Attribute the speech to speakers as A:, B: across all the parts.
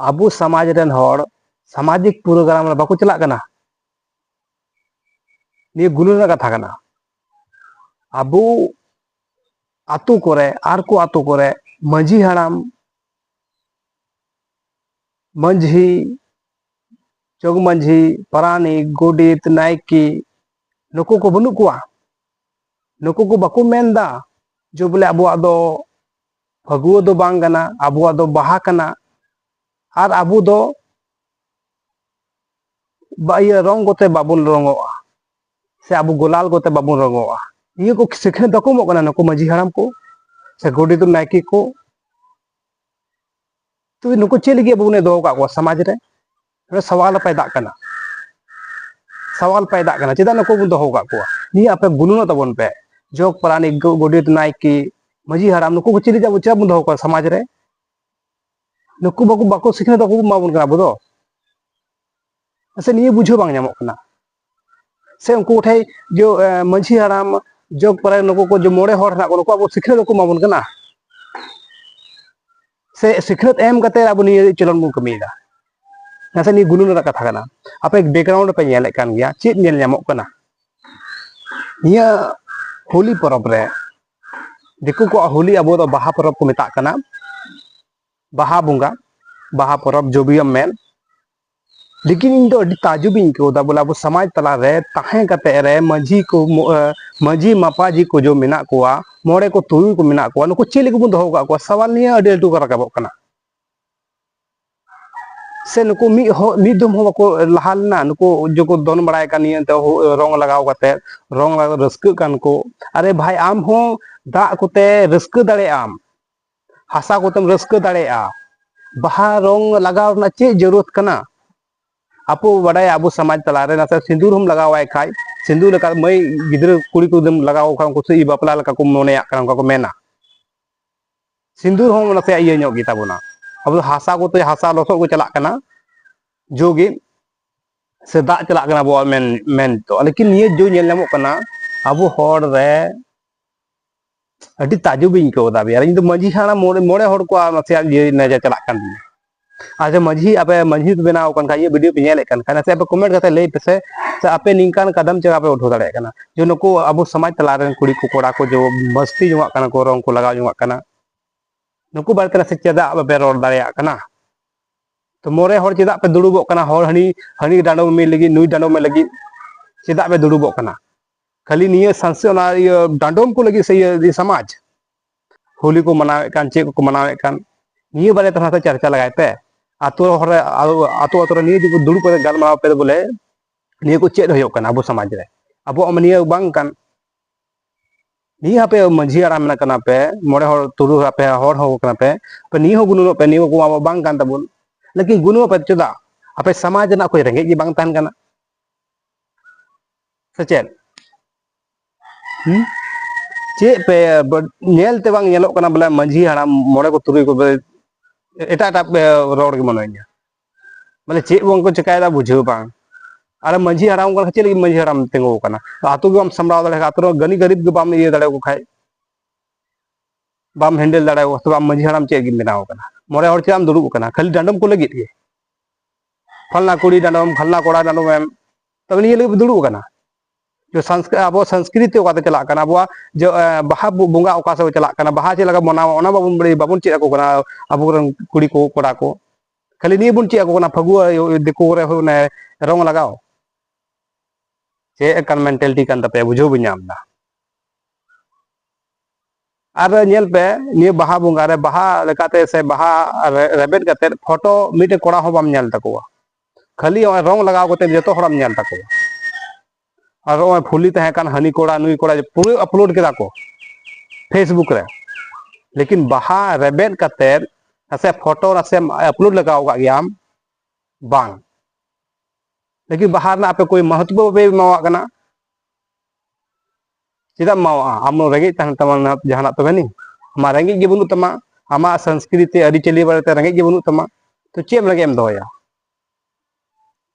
A: ᱟᱵᱚ ᱥᱚᱢᱟᱡᱽ ᱨᱮᱱ ᱦᱚᱲ ᱥᱟᱢᱟᱡᱤᱠ ᱯᱨᱳᱜᱨᱟᱢ ᱨᱮ ᱵᱟᱠᱚ ᱪᱟᱞᱟᱜ ᱠᱟᱱᱟ ᱱᱤᱭᱟᱹ ᱜᱩᱱᱟᱹᱱ ᱨᱮᱱᱟᱜ ᱠᱟᱛᱷᱟ ᱠᱟᱱᱟ ᱟᱵᱚ ᱟᱛᱳ ᱠᱚᱨᱮ ᱟᱨ ᱠᱚ ᱟᱛᱳ ᱠᱚᱨᱮ ᱢᱟᱺᱡᱷᱤ ᱦᱟᱲᱟᱢ ᱢᱟᱺᱡᱷᱤ ᱡᱚᱜᱽ ᱢᱟᱺᱡᱷᱤ ᱯᱟᱨᱟᱱᱤᱠ ᱜᱚᱰᱮᱛ ᱱᱟᱭᱠᱮ ᱱᱩᱠᱩ ᱠᱚ ᱵᱟᱹᱱᱩᱜ ᱠᱚᱣᱟ ᱱᱩᱠᱩ ᱠᱚ ᱵᱟᱠᱚ ᱢᱮᱱᱫᱟ ᱡᱮ ᱵᱚᱞᱮ ᱟᱵᱚᱣᱟᱜ ᱫᱚ ᱯᱷᱟᱹᱜᱩᱣᱟᱹ ᱫᱚ ᱵᱟᱝ ᱠᱟᱱᱟ ᱟᱵᱚᱣᱟᱜ ᱫᱚ ᱵᱟᱦᱟ ᱠᱟᱱᱟ ᱟᱨ ᱟᱵᱚ ᱫᱚ ᱤᱭᱟᱹ ᱨᱚᱝ ᱠᱚᱛᱮ ᱵᱟᱵᱚᱱ ᱨᱚᱝᱚᱜᱼᱟ ᱥᱮ ᱟᱵᱚ ᱜᱳᱞᱟᱞ ᱠᱚᱛᱮ ᱵᱟᱵᱚᱱ ᱨᱚᱝᱚᱜᱼᱟ ᱱᱤᱭᱟᱹ ᱠᱚ ᱥᱤᱠᱷᱱᱟᱹᱛ ᱵᱟᱠᱚ ᱮᱢᱚᱜ ᱠᱟᱱᱟ ᱱᱩᱠᱩ ᱢᱟᱹᱡᱷᱤ ᱦᱟᱲᱟᱢ ᱠᱚ ᱥᱮ ᱜᱚᱰᱮᱛ ᱱᱟᱭᱠᱮ ᱠᱚ ᱛᱚᱵᱮ ᱱᱩᱠᱩ ᱪᱮᱫ ᱞᱟᱹᱜᱤᱫ ᱟᱵᱚ ᱵᱚᱱ ᱫᱚᱦᱚ ᱠᱟᱜ ᱠᱚᱣᱟ ᱥᱚᱢᱟᱡᱽ ᱨᱮ ᱱᱚᱰᱮ ᱥᱟᱣᱟᱞ ᱯᱟᱭ ᱫᱟᱜ ᱠᱟᱱᱟ ᱥᱟᱣᱟᱞ ᱯᱟᱭ ᱫᱟᱜ ᱠᱟᱱᱟ ᱪᱮᱫᱟᱜ ᱱᱩᱠᱩ ᱵᱚᱱ ᱫᱚᱦᱚ ᱠᱟᱜ ᱠᱚᱣᱟ ᱱᱤᱭᱟᱹ ᱟᱯᱮ ᱜᱩᱱᱩᱱᱚᱜ ᱛᱟᱵᱚᱱ ᱯᱮ ᱡᱚᱜᱽ ᱯᱟᱨᱟᱱᱤᱠ ᱜᱚᱰᱮᱛ ᱱᱟᱭᱠᱮ ᱢᱟᱹᱡᱷᱤ ᱦᱟᱲᱟᱢ ᱱᱩᱠᱩ ᱠᱚ ᱪᱮᱫ ᱪᱮᱫᱟᱜ ᱵᱚᱱ ᱫᱚᱦᱚ ᱠᱚᱣᱟ ᱥᱚᱢᱟᱡᱽ ᱨᱮ ᱱᱩᱠᱩ ᱵᱟᱠᱚ ᱵᱟᱠᱚ ᱥᱤᱠᱷᱱᱟᱹᱛ ᱵᱟᱠᱚ ᱮᱢᱟᱵᱚᱱ ᱠᱟᱱᱟ ᱟᱵᱚ ᱫᱚ ᱥᱮ ᱱᱤᱭᱟᱹ ᱵᱩᱡᱷᱟᱹᱣ ᱵᱟᱝ ᱧᱟᱢᱚᱜ ᱠᱟᱱᱟ ᱥᱮ ᱩᱱᱠᱩ ᱠᱚᱴᱷᱮᱱ ᱡᱮ ᱢᱟᱺᱡᱷᱤ ᱦᱟᱲᱟᱢ ᱡᱚᱜᱽ ᱯᱟᱨᱟᱭ ᱱᱩᱠᱩ ᱠᱚ ᱡᱮ ᱢᱚᱬᱮ ᱦᱚᱲ ᱦᱮᱱᱟᱜ ᱠᱚ ᱱᱩᱠᱩ ᱟᱵᱚ ᱥᱤᱠᱷᱱᱟᱹᱛ ᱵᱟᱠᱚ ᱮᱢᱟᱵᱚᱱ ᱠᱟᱱᱟ ᱥᱮ ᱥᱤᱠᱷᱱᱟᱹᱛ ᱮᱢ ᱠᱟᱛᱮ ᱟᱵᱚ ᱱᱤᱭᱟᱹ ᱪᱚᱞᱚᱱ ᱵᱚᱱ ᱠᱟᱹᱢᱤᱭᱮᱫᱟ ᱱᱟᱥᱮ ᱱᱤᱭᱟᱹ ᱜᱩᱱᱟᱹᱱ ᱨᱮᱱᱟᱜ ᱠᱟᱛᱷᱟ ᱠᱟᱱᱟ ᱟᱯᱮ ᱵᱮᱠᱜᱨᱟᱣᱩᱱᱰ ᱯᱮ ᱧᱮᱞᱮᱫ ᱠᱟᱱ ᱜᱮᱭᱟ ᱪᱮᱫ ᱧᱮᱞ ᱧᱟᱢᱚᱜ ᱠᱟᱱᱟ ᱱᱤᱭᱟᱹ ᱦᱳᱞᱤ ᱯᱚᱨᱚᱵᱽ ᱨᱮ ᱫᱤᱠᱩ ᱠᱚᱣᱟᱜ ᱦᱳᱞᱤ ᱟᱵᱚ ᱫᱚ ᱵᱟᱦᱟ ᱯᱚᱨᱚᱵᱽ ᱠᱚ ᱢᱮᱛᱟᱜ ᱠᱟᱱᱟ ᱵᱟᱦᱟ ᱵᱚᱸᱜᱟ ᱵᱟᱦᱟ ᱯᱚᱨᱚᱵᱽ ᱡᱚᱵᱤᱭᱚᱢ ᱢᱮᱱ ᱞᱮᱠᱤᱱ ᱤᱧ ᱫᱚ ᱟᱹᱰᱤ ᱛᱟᱡᱩᱵ ᱤᱧ ᱟᱹᱭᱠᱟᱹᱣ ᱮᱫᱟ ᱵᱚᱞᱮ ᱟᱵᱚ ᱥᱚᱢᱟᱡᱽ ᱛᱟᱞᱟ ᱨᱮ ᱛᱟᱦᱮᱸ ᱠᱟᱛᱮ ᱨᱮ ᱢᱟᱹᱡᱷᱤ ᱠᱚ ᱢᱟᱹᱡᱷᱤ ᱢᱟᱯᱟᱡᱷᱤ ᱠᱚ ᱡᱚ ᱢᱮᱱᱟᱜ ᱠᱚᱣᱟ ᱢᱚᱬᱮ ᱠᱚ ᱛᱩᱨᱩᱭ ᱠᱚ ᱢᱮᱱᱟᱜ ᱠᱚᱣᱟ ᱱᱩᱠᱩ ᱪᱮᱫ ᱞᱟᱹᱜᱤᱫ ᱵᱚᱱ ᱫᱚᱦᱚ ᱠᱟᱜ ᱠᱚᱣᱟ ᱥᱟᱣᱟᱞ ᱱᱤᱭᱟᱹ ᱟᱹᱰᱤ ᱞᱟᱹᱴᱩ ᱠᱚ ᱨᱟᱠᱟᱵᱚᱜ ᱠᱟᱱᱟ ᱥᱮ ᱱᱩᱠᱩ ᱢᱤᱫ ᱦᱚᱸ ᱢᱤᱫ ᱫᱚᱢ ᱦᱚᱸ ᱵᱟᱠᱚ ᱞᱟᱦᱟ ᱞᱮᱱᱟ ᱱᱩᱠᱩ ᱡᱚᱠᱚ ᱫᱚᱱ ᱵᱟᱲᱟᱭ ᱠᱟᱱ ᱱᱤᱭᱟᱹ ᱛᱮ ᱨᱚᱝ ᱞᱟᱜᱟᱣ ᱠᱟᱛᱮ ᱨᱚᱝ ᱞᱟᱜᱟᱣ ᱨᱟᱹᱥᱠᱟᱹᱜ ᱠᱟᱱ ᱠᱚ ᱟᱨᱮ ᱵᱷᱟᱭ ᱟᱢ ᱦᱚᱸ ᱫᱟᱜ ᱠᱚᱛᱮ ᱨᱟᱹᱥᱠᱟᱹ ᱫᱟᱲᱮᱭᱟᱜ ᱟᱢ ᱦᱟᱥᱟ ᱠᱚᱛᱮᱢ ᱨᱟᱹᱥᱠᱟᱹ ᱫᱟᱲᱮᱭᱟᱜᱼᱟ ᱵᱟᱦᱟ ᱨᱚᱝ ᱞᱟᱜᱟᱣ ᱨᱮᱱᱟᱜ ᱪᱮᱫ ᱡᱟᱹᱨᱩᱲᱛ ᱠᱟᱱᱟ ᱟᱵᱚ ᱵᱟᱰᱟᱭᱟ ᱟᱵᱚ ᱥᱚᱢᱟᱡᱽ ᱛᱟᱞᱟᱨᱮ ᱱᱟᱥᱮ ᱥᱤᱸᱫᱩᱨ ᱦᱚᱢ ᱞᱟᱜᱟᱣᱟᱭ ᱠᱷᱟᱡ ᱥᱤᱸᱫᱩᱨ ᱞᱮᱠᱟ ᱢᱟᱹᱭ ᱜᱤᱫᱽᱨᱟᱹ ᱠᱩᱲᱤ ᱠᱚᱫᱚᱢ ᱞᱟᱜᱟᱣ ᱠᱷᱟᱱ ᱩᱱᱠᱩ ᱥᱮ ᱵᱟᱯᱞᱟ ᱞᱮᱠᱟ ᱠᱚ ᱢᱚᱱᱮᱭᱟᱜ ᱠᱟᱱᱟ ᱚᱱᱠᱟ ᱠᱚ ᱢᱮᱱᱟ ᱥᱤᱸᱫᱩᱨ ᱦᱚᱸ ᱱᱟᱥᱮ ᱤᱭᱟᱹ ᱧᱚᱜ ᱜᱮᱛᱟ ᱵᱚᱱᱟ ᱟᱵᱚ ᱫᱚ ᱦᱟᱥᱟ ᱠᱚᱛᱮ ᱦᱟᱥᱟ ᱞᱚᱥᱚᱫ ᱠᱚ ᱪᱟᱞᱟᱜ ᱠᱟᱱᱟ ᱡᱳᱜᱮ ᱥᱮ ᱫᱟᱜ ᱪᱟᱞᱟᱜ ᱠᱟᱱᱟ ᱟᱵᱚᱣᱟᱜ ᱢᱮᱱ ᱢᱮᱱ ᱫᱚ ᱞᱮᱠᱤᱱ ᱱᱤᱭᱟᱹ ᱡᱳ ᱧᱮᱞ ᱧᱟᱢᱚᱜ ᱠᱟᱱᱟ ᱟᱵᱚ ᱦᱚᱲ ᱨᱮ ᱟᱹᱰᱤ ᱛᱟᱡᱩᱵᱤᱧ ᱟᱹᱭᱠᱟᱹᱣ ᱮᱫᱟ ᱵᱤᱭᱟᱨ ᱤᱧ ᱫᱚ ᱢᱟᱹᱡᱷᱤ ᱦᱟᱲᱟᱢ ᱢᱚᱬᱮ ᱢᱚᱬᱮ ᱦᱚᱲ ᱠᱚᱣᱟᱜ ᱱᱟᱥᱮᱭᱟᱜ ᱤᱭᱟᱹ ᱱᱮᱡᱟ ᱪᱟᱞᱟᱜ ᱠᱟᱱ ᱛᱤᱧᱟ ᱟᱪᱪᱷᱟ ᱢᱟᱹᱡᱷᱤ ᱟᱯᱮ ᱢᱟᱹᱡᱷᱤ ᱯᱮ ᱵᱮᱱᱟᱣ ᱠᱟᱱ ᱠᱷᱟᱡ ᱤᱧᱟᱹᱜ ᱵᱷᱤᱰᱤᱭᱳ ᱯᱮ ᱧᱮᱞᱮᱫ ᱠᱟᱱ ᱠᱷᱟᱡ ᱱᱟᱥᱮ ᱟᱯᱮ ᱠᱚᱢᱮᱱᱴ ᱠᱟᱛᱮ ᱞᱟᱹᱭ ᱯᱮ ᱥᱮ ᱥᱮ ᱟᱯᱮ ᱱᱤᱝᱠᱟᱱ ᱠᱟᱫᱟᱢ ᱪᱮᱫ ᱟᱯᱮ ᱩᱴᱷᱟᱹᱣ ᱫᱟᱲᱮᱭᱟᱜ ᱠᱟᱱᱟ ᱡᱮ ᱱᱩᱠᱩ ᱟᱵᱚ ᱥᱚᱢᱟᱡᱽ ᱛᱟᱞᱟ ᱨᱮᱱ ᱠᱩᱲᱤ ᱠᱚ ᱠᱚᱲᱟ ᱠᱚ ᱡᱮ ᱢᱟᱹᱥᱛᱤ ᱡᱚᱝᱟᱜ ᱠᱟᱱᱟ ᱠᱚ ᱨᱚᱝ ᱠᱚ ᱞᱟᱜᱟᱣ ᱡᱚᱝᱟᱜ ᱠᱟᱱᱟ ᱱᱩᱠᱩ ᱵᱟᱨᱮᱛᱮ ᱱᱟᱥᱮ ᱪᱮᱫᱟᱜ ᱵᱟᱯᱮ ᱨᱚᱲ ᱫᱟᱲᱮᱭᱟᱜ ᱠᱟᱱᱟ ᱛᱚ ᱢᱚᱬᱮ ᱦᱚᱲ ᱪᱮᱫᱟᱜ ᱯᱮ ᱫᱩᱲᱩᱵᱚᱜ ᱠᱟᱱᱟ ᱦᱚᱲ ᱦᱟᱹᱱᱤ ᱦᱟᱹᱱᱤ ᱰᱟᱸᱰᱚᱢ ᱢᱮ ᱞᱟᱹᱜᱤᱫ ᱱᱩᱭ ᱰᱟᱸᱰᱚᱢ ᱢᱮ ᱞᱟᱹᱜᱤᱫ ᱪᱮᱫᱟᱜ ᱯᱮ ᱫᱩᱲᱩᱵᱚᱜ ᱠᱟᱱᱟ ᱠᱷᱟᱹᱞᱤ ᱱᱤᱭᱟᱹ ᱥᱟᱱᱥᱮ ᱚᱱᱟ ᱤᱭᱟᱹ ᱰᱟᱸᱰᱚᱢ ᱠᱚ ᱞᱟᱹᱜᱤᱫ ᱥᱮ ᱤᱭᱟᱹ ᱥᱚᱢᱟᱡᱽ ᱦᱳᱞᱤ ᱠᱚ ᱢᱟᱱᱟᱣᱮᱫ ᱠᱟᱱ ᱪᱮᱫ ᱠᱚᱠᱚ ᱢᱟᱱᱟᱣᱮᱫ ᱠᱟᱱ ᱱᱤᱭᱟᱹ ᱵᱟᱨᱮ ᱛᱮ ᱦᱚᱸ ᱪᱟᱨᱪᱟ ᱞᱟᱜᱟᱭ ᱯᱮ ᱟᱛᱳ ᱦᱚᱲ ᱨᱮ ᱟᱛᱳ ᱟᱛᱳ ᱨᱮ ᱱᱤᱭᱟᱹ ᱡᱩᱫᱤ ᱫᱩᱲᱩᱵ ᱠᱟᱛᱮ ᱜᱟᱞᱢᱟᱨᱟᱣ ᱯᱮ ᱵᱚᱞᱮ ᱱᱤᱭᱟᱹ ᱠᱚ ᱪᱮᱫ ᱦᱩᱭᱩᱜ ᱠᱟᱱᱟ ᱟᱵᱚ ᱥᱚᱢᱟᱡᱽ ᱨᱮ ᱟᱵᱚᱣᱟᱜ ᱢᱟ ᱱᱤᱭᱟᱹ ᱵᱟᱝ ᱠᱟᱱ ᱱᱤᱭᱟᱹ ᱟᱯᱮ ᱢᱟᱺᱡᱷᱤ ᱦᱟᱲᱟᱢ ᱢᱮᱱᱟᱜ ᱠᱟᱱᱟ ᱯᱮ ᱢᱚᱬᱮ ᱦᱚᱲ ᱛᱩᱨᱩᱭ ᱦᱚᱲ ᱟᱯᱮ ᱦᱚᱲ ᱦᱚᱸ ᱠᱟᱱᱟ ᱯᱮ ᱯᱮ ᱱᱤᱭᱟᱹ ᱦᱚᱸ ᱜᱩᱱᱟᱹᱱᱚᱜ ᱯᱮ ᱱᱤᱭᱟᱹ ᱠᱚ ᱟᱵᱚ ᱵᱟᱝ ᱠᱟᱱ ᱛᱟᱵᱚᱱ ᱞᱮᱠᱤᱱ ᱜᱩᱱᱟᱹᱱᱚᱜ ᱯᱮ ᱪᱮᱫᱟᱜ ᱟᱯᱮ ᱥᱚᱢᱟᱡᱽ ᱨᱮᱱᱟᱜ ᱚᱠᱚᱭ ᱨᱮᱸᱜᱮᱡ ᱜᱮ ᱵᱟᱝ ᱛᱟᱦᱮᱱ ᱠᱟᱱᱟ ᱥᱮ ᱪᱮᱫ ᱦᱩᱸ ᱪᱮᱫ ᱯᱮ ᱧᱮᱞ ᱛᱮ ᱵᱟᱝ ᱧᱮᱞᱚᱜ ᱠᱟᱱᱟ ᱵᱚᱞᱮ ᱢᱟᱺᱡᱷᱤ ᱦᱟᱲᱟᱢ ᱢᱚᱬᱮ ᱠᱚ ᱛᱩᱨᱩᱭ ᱠᱚ ᱮᱴᱟᱜ ᱮᱴᱟᱜ ᱯᱮ ᱨᱚᱲ ᱜᱮ ᱢᱚᱱᱮ ᱦᱚᱭᱳᱜ ᱵᱚᱞᱮ ᱪᱮᱫ ᱵᱟᱝ ᱠᱚ ᱪᱮᱠᱟᱭᱮᱫᱟ ᱵᱩᱡᱷᱟᱹᱣ ᱵᱟᱝ ᱟᱨ ᱢᱟᱺᱡᱷᱤ ᱦᱟᱲᱟᱢ ᱠᱟᱱᱟ ᱪᱮᱫ ᱞᱟᱹᱜᱤᱫ ᱢᱟᱺᱡᱷᱤ ᱦᱟᱲᱟᱢ ᱛᱤᱸᱜᱩ ᱟᱠᱟᱱᱟ ᱟᱛᱳ ᱜᱮ ᱵᱟᱢ ᱥᱟᱢᱵᱲᱟᱣ ᱫᱟᱲᱮ ᱠᱷᱟᱱ ᱟᱛᱳ ᱨᱮ ᱜᱟᱹᱱᱤ ᱜᱟᱹᱨᱤᱵ ᱜᱮ ᱵᱟᱢ ᱤᱭᱟᱹ ᱫᱟᱲᱮᱭᱟᱠᱚ ᱠᱷᱟᱡ ᱵᱟᱢ ᱦᱮᱱᱰᱮᱞ ᱫᱟᱲᱮᱭᱟᱠᱚ ᱛᱚᱵᱮ ᱟᱢ ᱢᱟᱺᱡᱷᱤ ᱦᱟᱲᱟᱢ ᱪᱮᱫ ᱜᱮᱢ ᱵᱮᱱᱟᱣ ᱟᱠᱟᱱᱟ ᱢᱚᱬᱮ ᱦᱚᱲ ᱪᱮᱫ ᱮᱢ ᱫᱩᱲᱩᱵ ᱟᱠᱟᱱᱟ ᱠᱷᱟᱹᱞᱤ ᱰᱟᱸᱰᱚᱢ ᱠᱚ ᱞᱟᱹᱜᱤᱫ ᱜᱮ ᱯᱷᱟᱞᱱᱟ ᱠᱩᱲᱤ ᱰᱟᱸᱰᱚᱢ ᱯᱷᱟᱞᱱᱟ ᱠᱚᱲᱟ ᱰᱟᱸᱰᱚᱢ ᱮᱢ ᱛᱚᱵᱮ ᱱᱤᱭᱟᱹ ᱞᱟᱹᱜᱤᱫ ᱵᱚ ᱫᱩᱲᱩᱵ ᱟᱠᱟᱱᱟ ᱡᱮ ᱟᱵᱚ ᱥᱚᱝᱥᱠᱨᱤᱛᱤ ᱚᱠᱟᱛᱮ ᱪᱟᱞᱟᱜ ᱠᱟᱱᱟ ᱟᱵᱚᱣᱟᱜ ᱡᱮ ᱵᱟᱦᱟ ᱵᱚᱸᱜᱟ ᱚᱠᱟ ᱥᱮᱫ ᱪᱟᱞᱟᱜ ᱠᱟᱱᱟ ᱵᱟᱦᱟ ᱪᱮᱫ ᱞᱮᱠᱟ ᱢᱟᱱᱟᱣᱟ ᱚᱱᱟ ᱵᱟᱵᱚᱱ ᱵᱟᱲᱟᱭ ᱵᱟᱵᱚᱱ ᱪᱮᱫ ᱟᱠᱚ ᱠᱟᱱᱟ ᱟᱵᱚᱨᱮᱱ ᱠᱩᱲᱤ ᱠᱚ ᱠᱚᱲᱟ ᱠᱚ ᱠᱷᱟᱹᱞᱤ ᱱᱤᱭᱟᱹ ᱵᱚᱱ ᱪᱮᱫ ᱟᱠᱚ ᱠᱟᱱᱟ ᱯᱷᱟᱹᱜᱩᱣᱟᱹ ᱫᱤᱠᱩ ᱠᱚᱨᱮ ᱚᱱᱮ ᱨᱚᱝ ᱞᱟᱜᱟᱣ ᱪᱮᱫ ᱮᱠᱟᱱ ᱢᱮᱱᱴᱟᱞᱤᱴᱤ ᱠᱟᱱ ᱛᱟᱯᱮᱭᱟ ᱵᱩᱡᱷᱟᱹᱣ ᱵᱟᱹᱧ ᱧᱟᱢ ᱮᱫᱟ ᱟᱨ ᱧᱮᱞ ᱯᱮ ᱱᱤᱭᱟᱹ ᱵᱟᱦᱟ ᱵᱚᱸᱜᱟ ᱨᱮ ᱵᱟᱦᱟ ᱞᱮᱠᱟᱛᱮ ᱥᱮ ᱵᱟᱦᱟ ᱨᱮᱵᱮᱫ ᱠᱟᱛᱮ ᱯᱷᱳᱴᱳ ᱢᱤᱫᱴᱮᱱ ᱠᱚᱲᱟ ᱦᱚᱸ ᱵᱟᱢ ᱧᱮᱞ ᱛᱟᱠᱚᱣᱟ ᱠᱷᱟᱹᱞᱤ ᱱᱚᱜᱼᱚᱭ ᱨᱚᱝ ᱞᱟᱜᱟᱣ ᱠᱟᱛᱮ ᱡᱚᱛᱚ ᱦᱚᱲᱟᱢ ᱧᱮᱞ ᱛᱟᱠᱚᱣᱟ ᱟᱨ ᱱᱚᱜᱼᱚᱭ ᱯᱷᱩᱞᱤ ᱛᱟᱦᱮᱸ ᱠᱟᱱ ᱦᱟᱹᱱᱤ ᱠᱚᱲᱟ ᱱᱩᱭ ᱠᱚᱲᱟ ᱯᱩᱨᱟᱹ ᱟᱯᱞᱳᱰ ᱠᱮᱫᱟ ᱠᱚ ᱯᱷᱮᱥᱵᱩᱠ ᱨᱮ ᱞᱮᱠᱤᱱ ᱵᱟᱦᱟ ᱨᱮᱵᱮᱫ ᱠᱟᱛᱮ ᱱᱟᱥᱮ ᱯᱷᱳᱴᱳ ᱱᱟᱥᱮ ᱟᱯᱞᱳᱰ ᱞᱟᱜᱟᱣ ᱠᱟᱜ ᱜᱮᱭᱟᱢ ᱵᱟᱝ ᱞᱮᱠᱤᱱ ᱵᱟᱦᱟ ᱨᱮᱱᱟᱜ ᱟᱯᱮ ᱠᱚᱭ ᱢᱚᱦᱚᱛᱵᱚ ᱵᱟᱯᱮ ᱮᱢᱟᱣᱟᱜ ᱠᱟᱱᱟ ᱪᱮᱫᱟᱜ ᱮᱢ ᱮᱢᱟᱣᱟᱜᱼᱟ ᱟᱢ ᱨᱮᱸᱜᱮᱡ ᱛᱟᱦᱮᱱ ᱛᱟᱢᱟ ᱡᱟᱦᱟᱱᱟᱜ ᱛᱚᱵᱮ ᱱᱤ ᱟᱢᱟᱜ ᱨᱮᱸᱜᱮᱡ ᱜᱮ ᱵᱟᱹᱱᱩᱜ ᱛᱟᱢᱟ ᱟᱢᱟᱜ ᱥᱚᱝᱥᱠᱨᱤᱛᱤ ᱟᱹᱨᱤᱪᱟᱹᱞᱤ ᱵᱟᱨᱮᱛᱮ ᱨᱮᱸᱜᱮᱡ ᱜᱮ ᱵᱟᱹᱱᱩᱜ ᱛᱟᱢᱟ ᱛᱚ ᱪᱮᱫ ᱮᱢ ᱞᱟᱹᱜᱤᱫ ᱮᱢ ᱫᱚᱦᱚᱭᱟ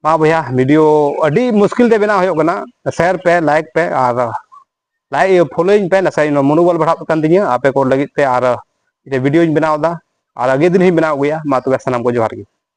A: ᱢᱟ ᱵᱚᱭᱦᱟ ᱵᱷᱤᱰᱤᱭᱳ ᱟᱹᱰᱤ ᱢᱩᱥᱠᱤᱞ ᱛᱮ ᱵᱮᱱᱟᱣ ᱦᱩᱭᱩᱜ ᱠᱟᱱᱟ ᱥᱮᱭᱟᱨ ᱯᱮ ᱞᱟᱭᱤᱠ ᱯᱮ ᱟᱨ ᱞᱟᱭᱤᱠ ᱯᱷᱳᱞᱳᱭᱤᱧ ᱯᱮ ᱱᱟᱥᱮ ᱢᱚᱱᱳᱵᱚᱞ ᱵᱟᱲᱦᱟᱜ ᱠᱟᱱ ᱛᱤᱧᱟᱹ ᱟᱯᱮ ᱠᱚ ᱞᱟᱹᱜᱤᱫ ᱛᱮ ᱟᱨ ᱵᱷᱤᱰᱤᱭᱳᱧ ᱵᱮᱱᱟᱣ ᱮᱫᱟ ᱟᱨ ᱟᱜᱮ ᱫᱤᱱ ᱦᱚᱸᱧ ᱵᱮᱱᱟᱣ ᱟᱹᱜᱩᱭᱟ ᱢᱟ ᱛᱚᱵᱮ ᱥᱟᱱᱟᱢ ᱠᱚ ᱡᱚᱦᱟᱨ ᱜᱮ